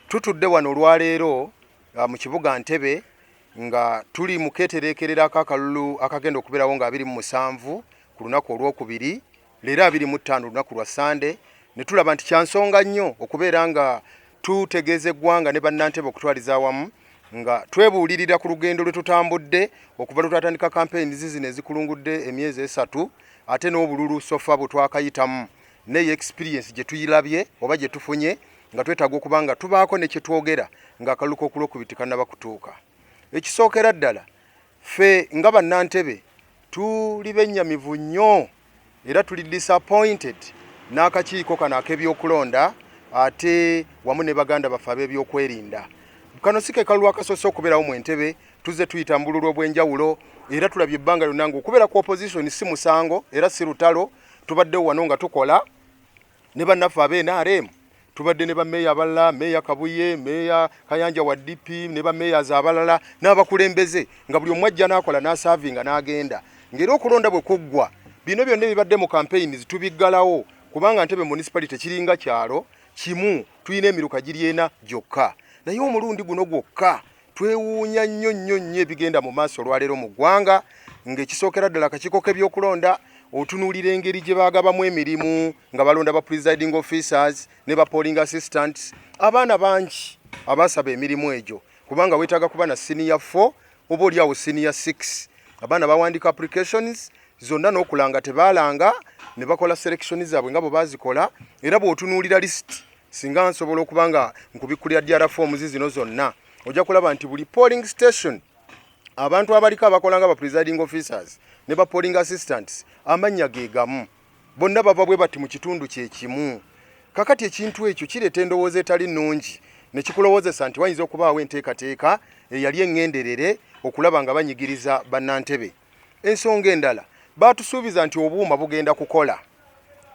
Tutudde wano olwaleero uh, mu kibuga Ntebe nga tuli mu keetereekererako akalulu akagenda okubeerawo nga abiri mu musanvu ku lunaku olwokubiri leero abiri mu ttaano olunaku lwa sande ne tulaba nti kya nsonga nnyo okubeera nga tutegeeza eggwanga ne bannantebe okutwaliza awamu nga twebuulirira ku lugendo lwe tutambudde okuva lwe twatandika kampeyini zizino ezikulungudde emyezi esatu ate n'obululu sofa bwe twakayitamu neyo experience gye tuyilabye oba gye tufunye nga twetaaga okuba nga tubaako ne kye twogera ng'akalulu k'okulwokubiti kannaba kutuuka ekisookera ddala ffe nga bannantebe tuli bennyamivu nnyo era tuli disappointed n'akakiiko kano ak'ebyokulonda ate wamu ne baganda baffe ab'ebyokwerinda kano si ke kalulu akasoose okubeerawo mu entebe tuzze tuyita mu bululu obw'enjawulo era tulabye ebbanga lyonna nga okubeera ku opposition si musango era si lutalo tubadde wano nga tukola ne bannaffe abe nrm tubadde ne bameeya abalala meeya kabuye meeya kayanja wa dp ne bameeyaz abalala n'abakulembeze nga buli omu ajja n'akola n'asaavinga n'agenda ng'era okulonda bwe kuggwa bino byonna ebibadde mu kampeyini zitubiggalawo kubanga ntebe municipality kiringa kyalo kimu tulina emiruka giri ena gyokka naye omulundi guno gwokka Twewuunya nnyo nnyo nnyo ebigenda mu maaso olwaleero mu ggwanga ng'ekisookera ddala akakiiko k'ebyokulonda otunuulira engeri gye baagabamu emirimu nga balonda ba presiding officers ne ba polling assistants abaana bangi abaasaba emirimu egyo kubanga weetaaga kuba na siniya 4 oba oliawo siniya 6 abaana bawandiika applications zonna n'okulanga tebaalanga ne bakola selection zaabwe nga bwe baazikola era bw'otunuulira lisiti singa nsobola okuba nga nkubikkulira dr forms zino zonna ojja kulaba nti buli polling station abantu abaliko abakola nga ba presiding officers ne ba polling assistants amannya ge gamu bonna bava bwe bati mu kitundu kye kimu kakati ekintu ekyo kireeta endowooza etali nnungi ne kikulowozesa nti wayinza okubaawo enteekateeka eyali eŋŋenderere okulaba nga banyigiriza bannantebe ensonga endala baatusuubiza nti obuuma bugenda kukola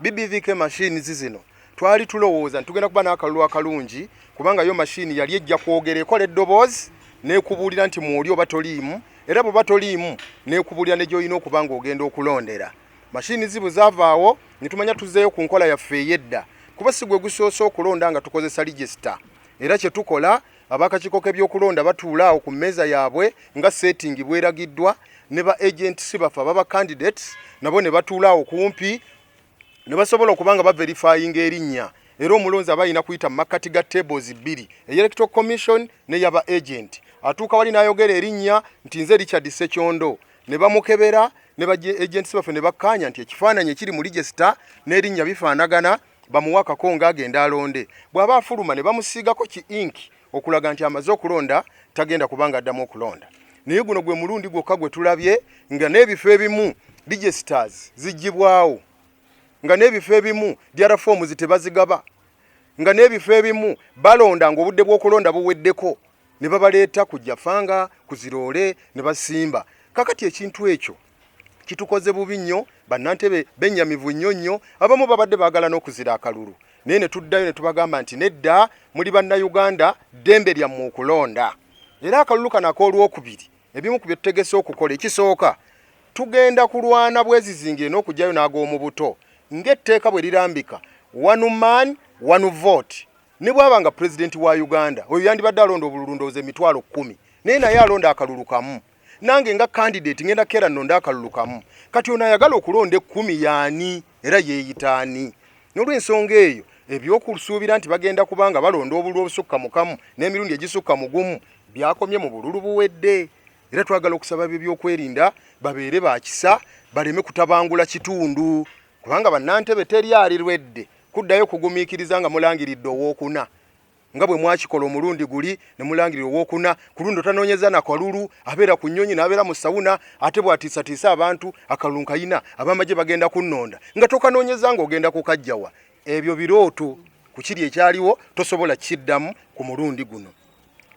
bbvk machines zino twali tulowooza nti tugenda kuba n'akalulu akalungi kubanga yo machine yali ejja kwogera ekola eddoboozi nekubuulira nti mwoli oba toliimu era bweba toliimu nekubuulira ne gyolina okuba nga ogenda okulondera mashini zibu zavaawo netumanya tuzeeyo ku nkola yaffe eyedda kuba si gwe gusoose okulonda nga tukozesa ligisita era kyetukola Ab'akakiiko k'ebyokulonda batuula awo ku mmeeza yaabwe nga seetingi bweragiddwa ne ba agenti si baffe ababa candidates nabo ne batuula awo kumpi ne basobola okuba nga baverifayinga erinnya era omulonzi aba alina kuyita mu makkati ga tables bbiri eyelectro commission ne yaba agenti atuuka wali n'ayogera erinnya nti nze richard sekyondo ne bamukebera ne agenti si baffe ne bakkaanya nti ekifaananyi ekiri mu lijesita n'erinnya bifaanagana bamuwa akakonga agenda alonde bw'aba afuluma ne bamusiigako ki inki okulaga nti amaze okulonda tagenda kubanga addamu okulonda naye guno gwe mulundi gwokka gwe tulabye nga n'ebifo ebimu digestars zigibwawo nga n'ebifo ebimu diara foomu zitebazigaba nga n'ebifo ebimu balonda nga obudde bw'okulonda buweddeko ne babaleeta ku jafanga ku ziroole ne basimba kakati ekintu ekyo kitukoze bubi nnyo bannantebe benyamivu nnyo nnyo abamu babadde baagala n'okuzira akalulu naye ne tuddayo ne tubagamba nti nedda muli bannayuganda ddembe lyammwe okulonda era akalulu kano ak'olwokubiri ebimu ku bye tutegese okukola ekisooka tugenda kulwana bwezizingire n'okugyayo n'ag'omu buto ng'etteeka bwe lirambika one man one vote ne bwaba nga pulezidenti wa uganda oyo yandibadde alonda obululu ndowooza emitwalo kkumi naye naye alonda akalulu kamu nange nga candidate ngenda kera nonda akalulu kamu kati ono ayagala okulonda ekkumi yaani era yeeyitaani n'olwensonga eyo ebyokusuubira nti bagenda kubanga balonda obululu obusukka mukamu n'emirundi egisukka mugumu byakomye mu bululu buwedde era twagala okusaba bebyokwerinda babeere bakisa baleme kutabangula kitundu kubanga bannantebe teri alirwedde kuddayo kugumiikiriza nga mulangiridde owokuna nga bwe mwakikola omulundi guli ne mulangirira owokuna ku lundi otanoonyeza na kalulu abeera ku nnyonyi n'abeera mu sawuna ate bw'atiisatiisa abantu akalulu nkayina abamagye bagenda kunnonda nga tokanoonyeza ng'ogenda kukajjawa ebyo birooto ku kiri ekyaliwo tosobola kukiddamu ku mulundi guno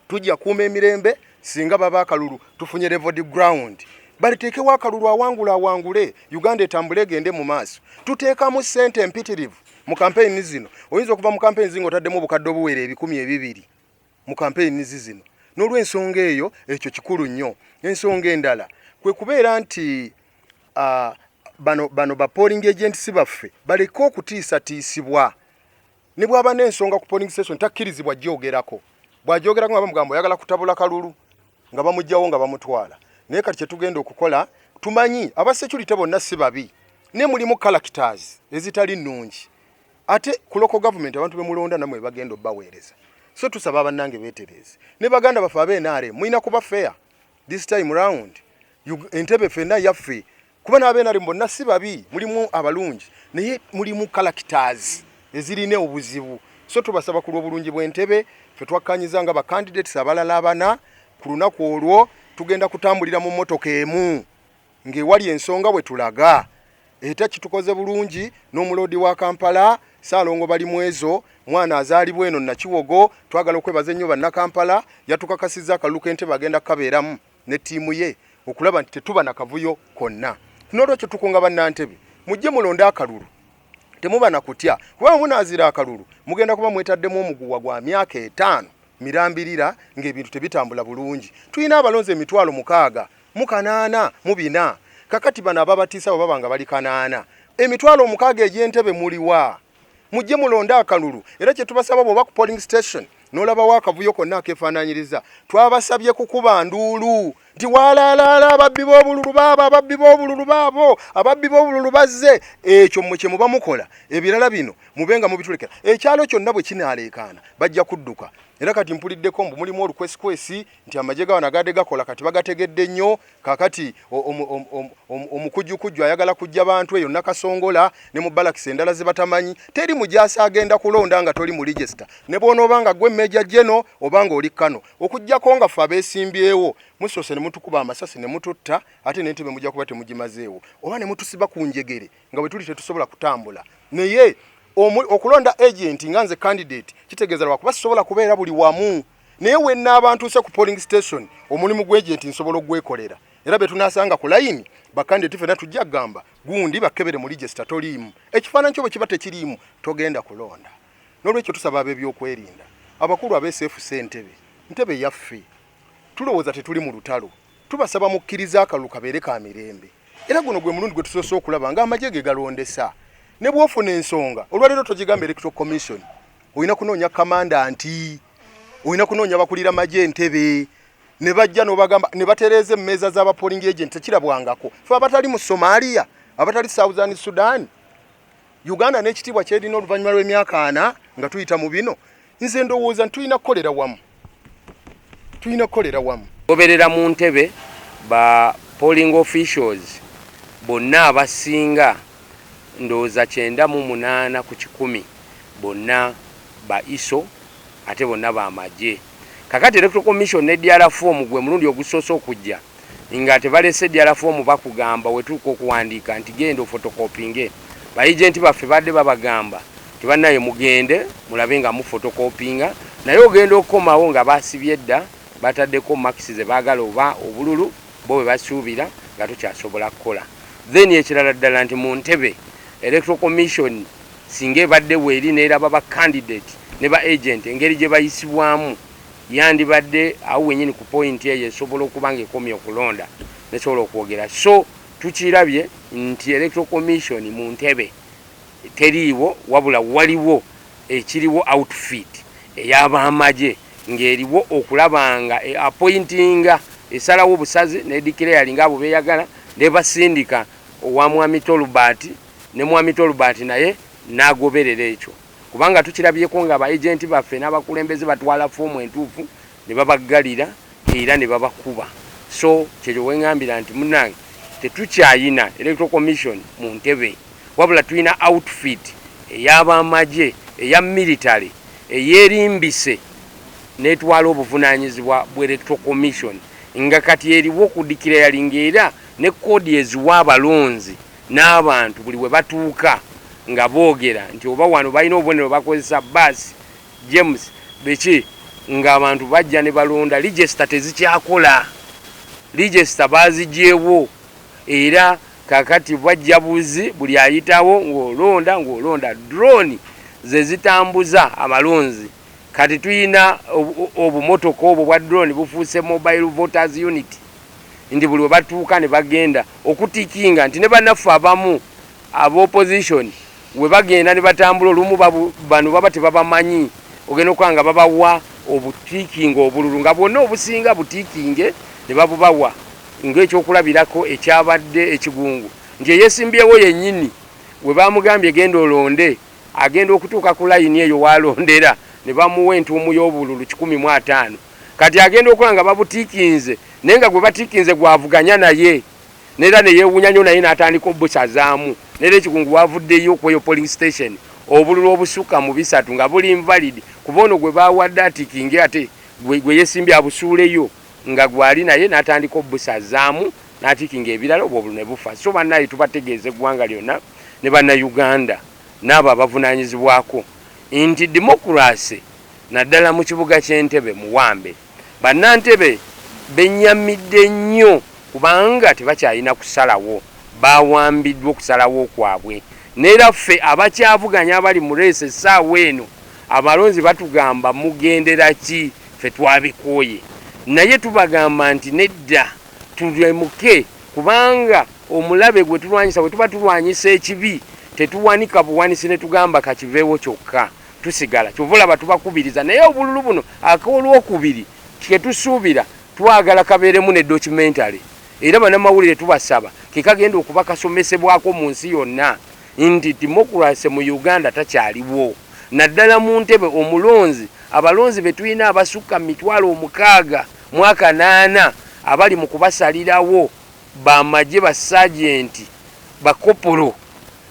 tujja kuuma emirembe singa baba akalulu tufunye levod ground baliteekewo akalulu awangula awangule uganda etambule egende mu maaso tuteekamu ssente empitirivu mu kampeyini zino oyinza okuva mu kampeyini zi ng'otaddemu obukadde obuwera ebikumi ebibiri mu kampeyini zi zino n'olwensonga eyo ekyo kikulu nnyo ensonga endala kwe kubeera nti bano bano ba polling agents baffe baleke okutiisatiisibwa ne bwaba n'ensonga ku polling station takkirizibwa gyogerako bw'agyogerako nga bamugambo oyagala kutabula kalulu nga bamugyawo nga bamutwala naye kati kyetugenda okukola tumanyi aba security bonna si babi naye mulimu characters ezitali nnungi ate ku local government abantu bemulonda namwe bagenda obaweereza so tusaba bannange beetereeze ne baganda baffe abe nrm mulina kuba fair this time round entebe fenna yaffe kuba n'abenari bonna si babi mulimu abalungi naye mulimu characters ezirina obuzibu so tubasaba ku lw'obulungi bw'entebe fe twakkanyiza nga bacandidates abalala abana ku lunaku olwo tugenda kutambulira mu mmotoka emu ng'ewali ensonga bwe tulaga eta kitukoze bulungi n'omuloodi wa kampala saalongo bali mu ezo mwana azaalibwa eno nakiwogo twagala okwebaza ennyo bannakampala yatukakasizza akalulu k'entebe agenda kukabeeramu ne ttiimu ye okulaba nti tetuba na kavuyo konna. N'olwekyo tukunga bannantebe mujje mulonde akalulu temuba na kutya kuba munaazira akalulu mugenda kuba mwetaddemu omuguwa gwa myaka etaano mirambirira ng'ebintu tebitambula bulungi. Tulina abalonzi emitwalo mukaaga mu kanaana mu bina kakati bano ababatiisa bwe baba nga bali kanaana emitwalo omukaaga egy'entebe muliwa? mujje mulonde akalulu era kyetubasaba bwoba ku polling station nolabawo akavuyo konna akefaananyiriza twabasabye kukuba nduulu nti walaalaala ababbi b'obululu baabo ababbi b'obululu baabo ababbi b'obululu bazze ekyo mwe kyemuba mukola ebirala bino mube nga mubitulekera ekyalo kyonna bwe kinaaleekaana bajja kudduka era kati mpuliddeko mbu mulimu olukwesikwesi nti amagye gawa nagade gakola kati bagategedde nnyo kakati omukujukujju ayagala kujja bantu eyo nakasongola ne mu balakis endala zebatamanyi teri mujasi agenda kulonda nga toli mu register ne bwonooba nga gwe meja jeno oba nga oli kano okujjako nga fe abesimbyewo musoose ne mutukuba amasasi ne mututta ate nentebe mujja kuba temugimazeewo oba ne mutusiba ku njegere nga bwe tuli tetusobola kutambula naye okulonda agenti nga nze candidate kitegeeza lwakuba sisobola kubeera buli wamu naye wenaaba ntuuse ku polling station omulimu gwegenti nsobola okugwekolera era betunasanga ku layini bakandidati fena tujja kugamba gundi bakebere mu ligesita toliimu ekifaananyi kyo bwe kiba tekiriimu togenda kulonda nolwekyo tusaba abebyokwerinda abakulu abesefu sentebe ntebe yaffe tulowooza tetuli mu lutalo Tubasaba mukkirize akalulu kabeere ka mirembe era guno gwe mulundi gwe tusoose okulaba nga amagye ge galondesa ne bwofuna ensonga olwaleero togigamba electoral commission olina kunoonya kamanda nti olina kunoonya bakulira magye entebe ne bajja nobagamba ne batereeza emmeeza za bapoling agent tekirabwangako fe abatali mu somalia abatali southern sudan uganda n'ekitiibwa kyerina oluvannyuma lw'emyaka ana nga tuyita mu bino nze ndowooza ntulina kukolera wamu tulina kukolera wamu goberera mu ntebe ba polling officials bonna abasinga ndowooza kyenda mu munaana ku kikumi bonna ba iso ate bonna bamagye kakati electoral commission ne drfom gwe mulundi ogusoose okujja nga tebalese dala foomu bakugamba wetuuka okuwandiika nti genda ofotokopinge ba agent baffe badde babagamba nti banaye mugende mulabe nga mu fotokopinga naye ogenda okukomawo nga basibye dda bataddeko makisi zebagala oba obululu bo bwebasuubira nga tokyasobola kukola then ekirala ddala nti mu ntebe electoral commission singa ebadde weeri neraba ba candidate ne ba agent engeri gyebayisibwamu Yandibadde awo wenyini ku point eyo esobola okuba nga ekomye okulonda nesobola okwogera so tukirabye nti electoral commission mu ntebe teriiwo wabula waliwo ekiriwo outfit eyabamaje ngeriwo okulaba nga e appointinga esalawo obusazi ne declaringa abo beyagala nebasindika owa mwami Tolbert ne mwami Tolbert naye nagoberera ekyo. kubanga tukirabyeko nga ba agenti baffe n'abakulembeze batwala foomu entuufu ne babaggalira era ne babakuba so kyekyo wengambira nti munange tetukyayina electoral commission mu ntebe wabula tulina outfit ey'abamagye eya military eyerimbise netwala obuvunanyizibwa bwa electoral commission nga kati eriwo ku dikira yalinga era ne kkoodi eziwa abalonzi n'abantu buli we batuuka nga boogera nti oba wano balina obubonero bakozesa bbaasi James biki ng'abantu bajja ne balonda lijesita tezikyakola lijesita baazigyewo era kakati bajja buzi buli ayitawo ng'olonda ng'olonda drone ze zitambuza abalonzi kati tulina obumotoka obwo bwa drone bufuuse mobile voters unit nti buli webatuuka nebagenda okutikinga nti nebanaffe abamu aba opposition webagenda nebatambula olumu bano baba tebabamanyi ogenda okuba nga babawa obutikinga obululu nga bwonna obusinga butikinge nebabubawa ngaekyokulabirako ekyabadde ekigungu nti eyesimbyewo yenyini webamugambye genda olonde agenda okutuuka ku layini eyo walondera nebamuwa entuumu yobululu kikumi mu ataano Kati agenda okola nga babutikinze naye nga gwebatikinze gwavuganya naye nera neyewunya nyo naye natandika obusazaamu nera ekikungu wavuddeyo kweyo polling station obululu obusukka mu bisatu nga buli invalid kuba ono gwebawadde atikinge ate gweyesimbye abusuuleyo nga gwali naye natandika obusazaamu natikinga ebirala obwo obululu nebufa so banaye tubategeeza eggwanga lyona ne banauganda naabo abavunanyizibwako nti democracy naddala mu kibuga ky'e Ntebe Muwambe. Bannantebe bennyamidde nnyo kubanga tebakyalina kusalawo, bawambiddwa okusalawo kwabwe n'era ffe abakyavuganya abali mu leesu essaawa eno abalonzi batugamba mugendera ki ffe twabikooye naye tubagamba nti nedda tulemuke kubanga omulabe gwe tulwanyisa bwe tuba tulwanyisa ekibi tetuwanika buwanisi ne tugamba kakiveewo kyokka. tusigala kyova olaba tubakubiriza naye obululu buno akolwokubiri ketusuubira twagala kabeeremu ne documentary era banamawulire tubasaba kekagenda okuba kasomesebwako mu nsi yonna nti demokurase mu uganda takyaliwo naddala mu ntebe omulonzi abalonzi betulina abasukka mu mitwalo omukaaga mwaka naana abali mu kubasalirawo bamagye basajenti bakopolo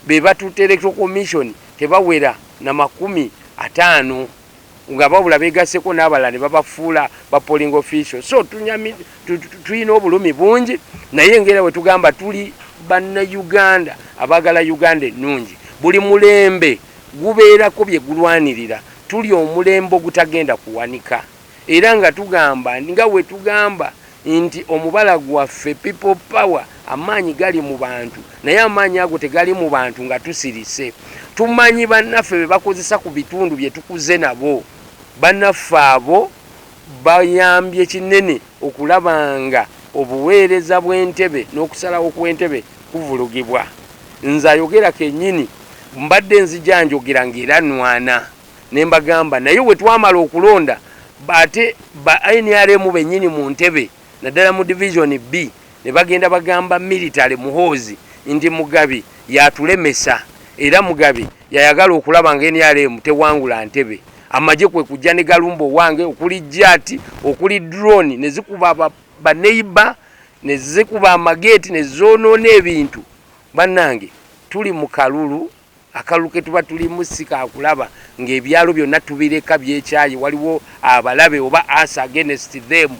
be batutte Electoral Commission tebawera na makumi ataano nga babula begasseko n'abalala ne babafuula ba polling official so tulina obulumi bungi naye ngaera bwe tugamba tuli bannayuganda abaagala uganda ennungi buli mulembe gubeerako bye gulwanirira tuli omulembe ogutagenda kuwanika Era nga tugamba nga bwe tugamba nti omubala gwaffe People Power amaanyi gali mu bantu naye amaanyi ago tegali mu bantu nga tusirise. Tumanyi bannaffe be bakozesa ku bitundu bye tukuze nabo. Bannaffe abo bayambye kinene okulaba nga obuweereza bw'entebe n'okusalawo kw'entebe kuvulugibwa. Nze ayogera kennyini mbadde nzija njogera ng'era nnwana. Ne mbagamba naye bwe twamala okulonda ate ba nrm bennyini mu Ntebe naddala mu Division B ne bagenda bagamba Military, Muhoozi, nti Mugabi y'atulemesa era Mugabi yayagala okulaba nga nrm tewangula Ntebe. Amagye kwe kujja ne galumba owange okuli Jati, okuli Drone ne zikuba ba Neighbour ne zikuba amageeti ne zoonoona ebintu. Bannange tuli mu kalulu. Akalulu ke tuba tulimu si ka kulaba ng'ebyalo byonna tubireka byekyaye waliwo abalabe oba us against them.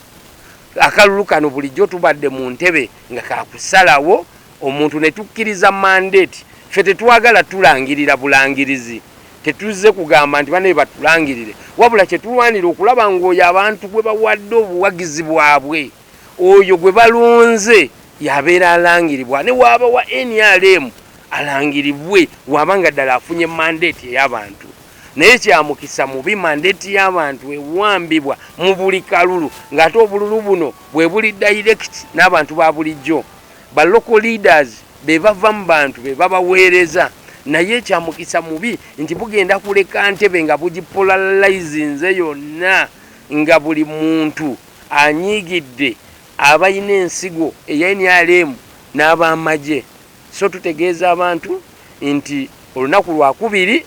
Akalulu kano bulijjo tubadde mu ntebe nga ka kusalawo omuntu ne tukkiriza mandate. Ffe tetwagala tulangirira bulangirizi, tetuzze kugamba nti banaye batulangirire wabula kye tulwanira okulaba ng'oyo abantu gwe bawadde obuwagizi bwabwe, oyo gwe balonze yabeera alangiribwa ne waaba wa nrm alangiribwe waaba nga ddala afunye mandeeti ey'abantu naye kyamukisa mubi mandeeti y'abantu ewambibwa mu buli kalulu ng'ate obululu buno bwe buli direct n'abantu ba bulijjo ba local leaders be bava mu bantu be babaweereza naye kyamukisa mubi nti bugenda kuleka ntebe nga bugipolalizinze yonna nga buli muntu Anyiigidde abalina ensigo eya nrm n'abamagye so tutegeeza abantu nti olunaku lwakubiri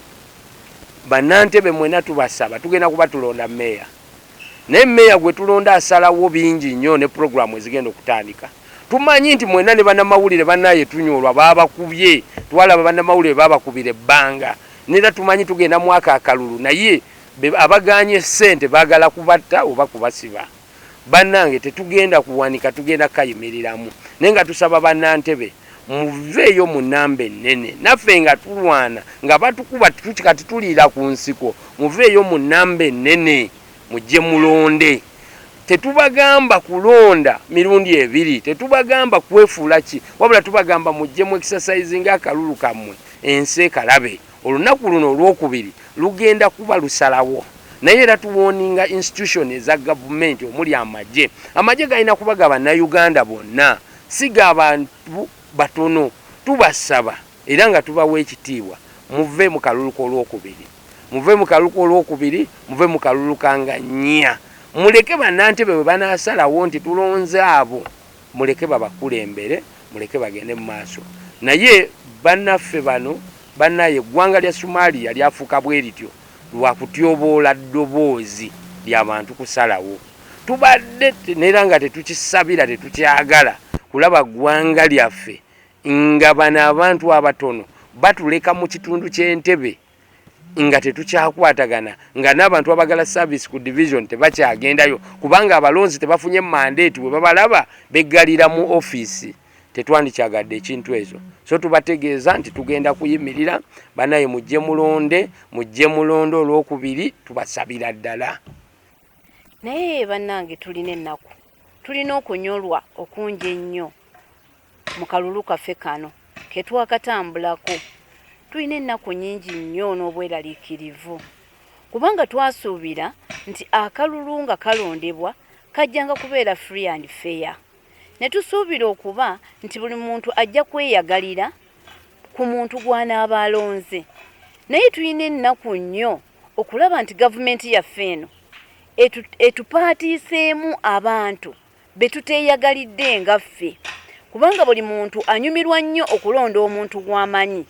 bannantebe mwena tubasaba tugenda kuba tulonda Mayor naye Mayor gwetulonda asalawo bingi nnyo ne program ezigenda okutandika tumanyi nti mwena ne banamawulire banaye tunyolwa babakubye twalaba banamawulire babakubira ebbanga nera tumanyi tugenda mwako akalulu naye Be abagaanye sente bagala kubatta oba kubasiba? Banange tetugenda kuwanika tugenda kayimiriramu naye nga tusaba banantebe muveeyo mu namba ennene naffe nga tulwana nga batukuba kati tuliira ku nsiko muveeyo mu namba ennene mujje mulonde tetubagamba kulonda mirundi ebiri tetubagamba kwefuula ki wabula tubagamba mujje mu exercise nga akalulu kammwe ensi ekalabe Olunaku luno olwokubiri lugenda kuba lusalawo naye era tuwoninga institution eza gavumenti omuli amagye. Amagye galina kuba ga Bannayuganda bonna si ga bantu batono. Tubasaba era nga tubawa ekitiibwa muve mu kalulu k'olwokubiri, muve mu kalulu k'olwokubiri, muve mu kalulu ka nga nnya. Muleke bannantebe bwe banaasalawo nti tulonze abo. Muleke babakulembere muleke bagende mumaaso naye banaffe bano banaye eggwanga lya Somalia lyafuuka bwerityo lwakutyoboola ddoboozi lyabantu kusalawo tubadde nera nga tetukisabira tetukyagala kulaba ggwanga lyaffe nga bano abantu abatono batuleka mukitundu kye Entebbe. nga tetukyakwatagana nga n'abantu abagala service ku division tebakyagendayo kubanga abalonzi tebafunye mandate bwe babalaba beggalira mu ofiisi tetwandikyagadde ekintu ezo so tubategeeza nti tugenda kuyimirira banaye mujje mulonde mujje mulonde olwokubiri tubasabira ddala naye bannange tulina ennaku tulina okunyolwa okungi ennyo mu kalulu kaffe kano ketwakatambulako tulina ennaku nyingi nnyo n'obweraliikirivu kubanga twasuubira nti akalulu nga kalondebwa kajjanga kubeera free and fair ne tusuubira okuba nti buli muntu ajja kweyagalira ku muntu gw'anaaba alonze naye tulina ennaku nnyo okulaba nti gavumenti yaffe eno etupaatiiseemu abantu be tuteeyagalidde nga ffe kubanga buli muntu anyumirwa nnyo okulonda omuntu gw'amanyi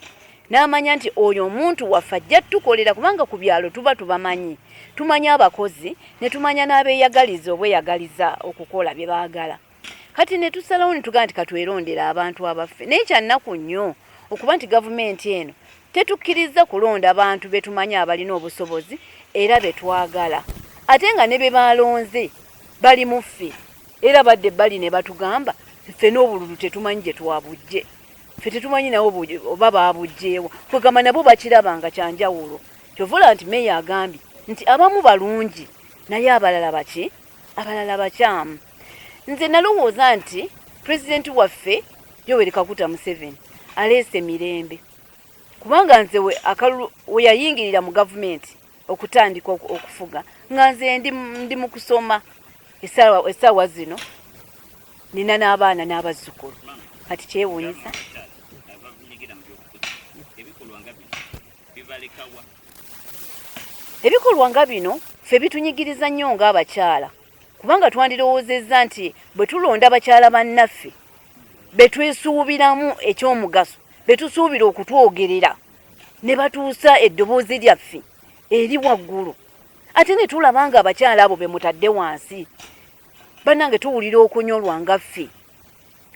n'amanya nti oyo omuntu waffe ajja tukolera kubanga ku byalo tuba tubamanyi tumanya abakozi ne tumanya n'abeeyagaliza obweyagaliza okukola bye baagala kati ne tusalawo ne tugamba nti katwerondera abantu abaffe naye kyannaku nnyo okuba nti gavumenti eno tetukkirizza kulonda bantu be tumanyi abalina obusobozi era be twagala ate nga ne be baalonze bali muffe era badde bali ne batugamba ffe n'obululu tetumanyi gye twabujje ffe tetumanyi nawo oba baabujjeewo kwegamba nabo bakiraba nga kyanjawulo kyovula nti meeya agambye nti abamu balungi naye abalala baki abalala bakyamu nze nalowooza nti pulezidenti waffe yoweri kakuta museveni aleese mirembe kubanga nze akalulu we yayingirira mu gavumenti okutandika okufuga nga nze ndi mu kusoma essaawa zino nina n'abaana n'abazzukulu kati kyewuunyisa ebikolwa nga bino fe bitunyigiriza nnyo ng'abakyala kubanga twandirowoozezza nti bwe tulonda abakyala bannaffe betwesuubiramu eky'omugaso betusuubira okutwogerera ne batuusa eddoboozi lyaffe eri waggulu ate ne tulaba nga abakyala abo be mutadde wansi bannange tuwulira okunyolwa nga ffe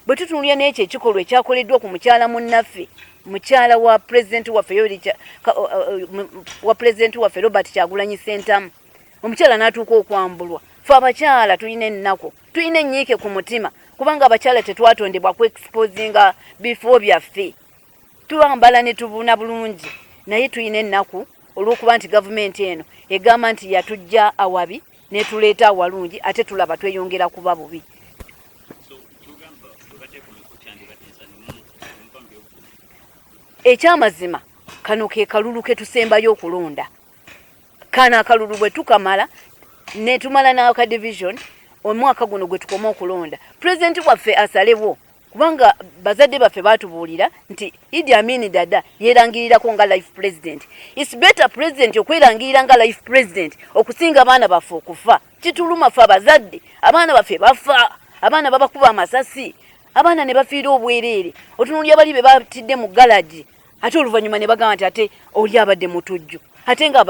bwe tutunulira n'ekyo ekikolwa ekyakoleddwa ku mukyala munnaffe mukyala wa pulezidenti waffe uh, uh, wa pulezidenti waffe robert kyagulanyi sentamu omukyala n'atuuka okwambulwa fe abakyala tulina ennaku tulina ennyiike ku mutima kubanga abakyala tetwatondebwa ku exposinga bifo byaffe twambala ne tubuna bulungi naye tulina ennaku olw'okuba nti gavumenti eno egamba nti yatujja awabi netuleeta awalungi ate tulaba tweyongera kuba bubi ekyamazima kano ke kalulu ke tusembayo okulonda kano akalulu bwe tukamala netumala n'aka division omwaka guno gwe tukoma okulonda pulezidenti waffe asalewo kubanga bazadde baffe batubuulira nti idi amini dada yerangirirako nga life president its better president okwerangirira nga life president okusinga abaana baffe okufa kituluma fe abazadde abaana baffe bafa abaana babakuba amasasi abaana ne bafiira obwereere otunulya bali be batidde mu galagi ate oluvannyuma ne bagamba nti ate oli abadde mutujju ate nga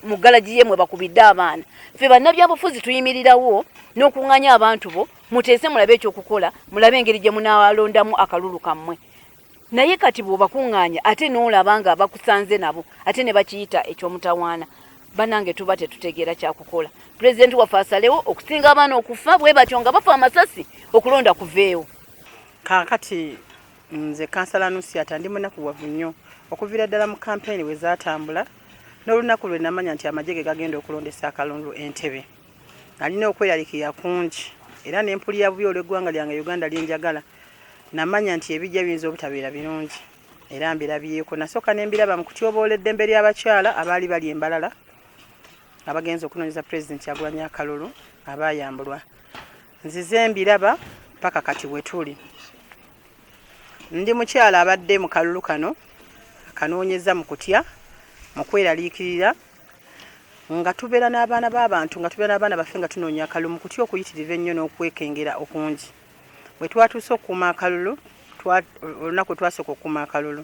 mu galagi ye mwe bakubidde abaana ffe bannabyabufuzi tuyimirirawo n'okuŋŋanya abantu bo muteese mulabe ekyokukola mulabe engeri gye munaalondamu akalulu kammwe naye kati bw'obakuŋŋanya ate n'olaba nga bakusanze nabo ate ne bakiyita eky'omutawaana banange tuba tetutegeera kyakukola pulezidenti waffe asalewo okusinga abaana okufa bwe batyo nga bafa amasasi okulonda kuveewo kaakati Nze kansala Nusiata ndi munakuwavu nnyo okuviira ddala mu kampeyini bwe zaatambula n'olunaku lwe namanya nti amagye ge gagenda okulondesa akalundu Entebbe. Nalina okweralikirira kungi era ne mpulira bubi olw'eggwanga lyange Uganda lye njagala. Namanya nti ebijja biyinza obutabeera birungi era mbirabyeko. Nasooka ne mbiraba mu kutyoboola eddembe ly'abakyala abaali bali e Mbarara abagenze okunoonyeza Pulezidenti Kyagulanyi akalulu abaayambulwa. nzize mbiraba paka kati wetuli ndi mukyala abadde mu kalulu kano akanoonyeza mu kutya mu kweraliikirira nga tubeera n'abaana b'abantu nga tubeera n'abaana baffe nga tunoonya akalulu mu kutya okuyitiriva ennyo n'okwekengera okungi bwe twatuuse okukuuma akalulu olunaku lwe twasooka okukuuma akalulu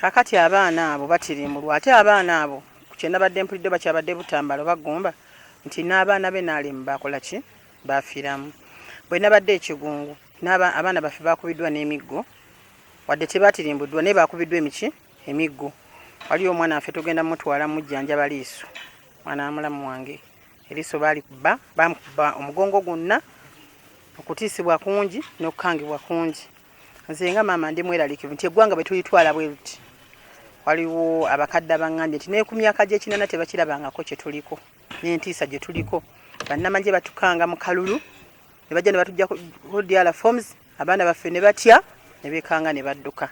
kakati abaana abo batirimbulwa ate abaana abo kyenabadde mpulidde bakyabadde butambalo bagumba nti n'abaana be nalimu bakola ki bafiramu bwenabadde ekigungu abaana baffe bakubiddwa n'emiggo wadde tebatirimbuddwa naye bakubiddwa emiki emiggo waliyo omwana waffe tugenda mutwala mujjanjaba liiso mwana wamulamu wange eriiso balikuba bamukuba omugongo gwonna okutiisibwa kungi n'okukangibwa kungi nze nga maama ndi mweralikivu nti eggwanga bwe tulitwala bwe luti waliwo abakadde abangambye nti neku myaka gyekinana tebakirabangako kyetuliko nentiisa gye tuliko bannamagye batukanga mu kalulu ne bajja ne batujja kudiala forms abaana baffe ne batya ne bekanga ne badduka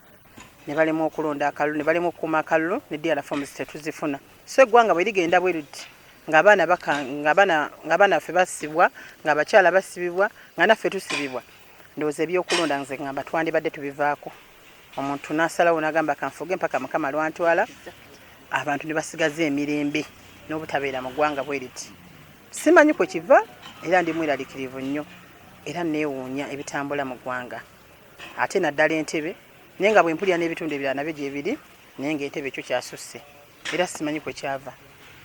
ne balemwa okulonda akalulu ne balemwa okukuuma akalulu ne diala forms tetuzifuna so eggwanga bwe ligenda bwe luti ng'abaana baffe basibwa ng'abakyala basibibwa nga naffe tusibibwa ndowooza ebyokulonda nze ngamba twandibadde tubivaako omuntu nasalawo nagamba kanfuge mpaka mukama lwantwala abantu ne basigaza emirembe n'obutabeera mu ggwanga bwe riti simanyi kwe kiva era ndi mweralikirivu nnyo era neewuunya ebitambula mu ggwanga ate naddala entebe naye nga bwe mpulira n'ebitundu ebirala nabyo gyebiri naye nga entebe ekyo kyasusse era simanyi kwe kyava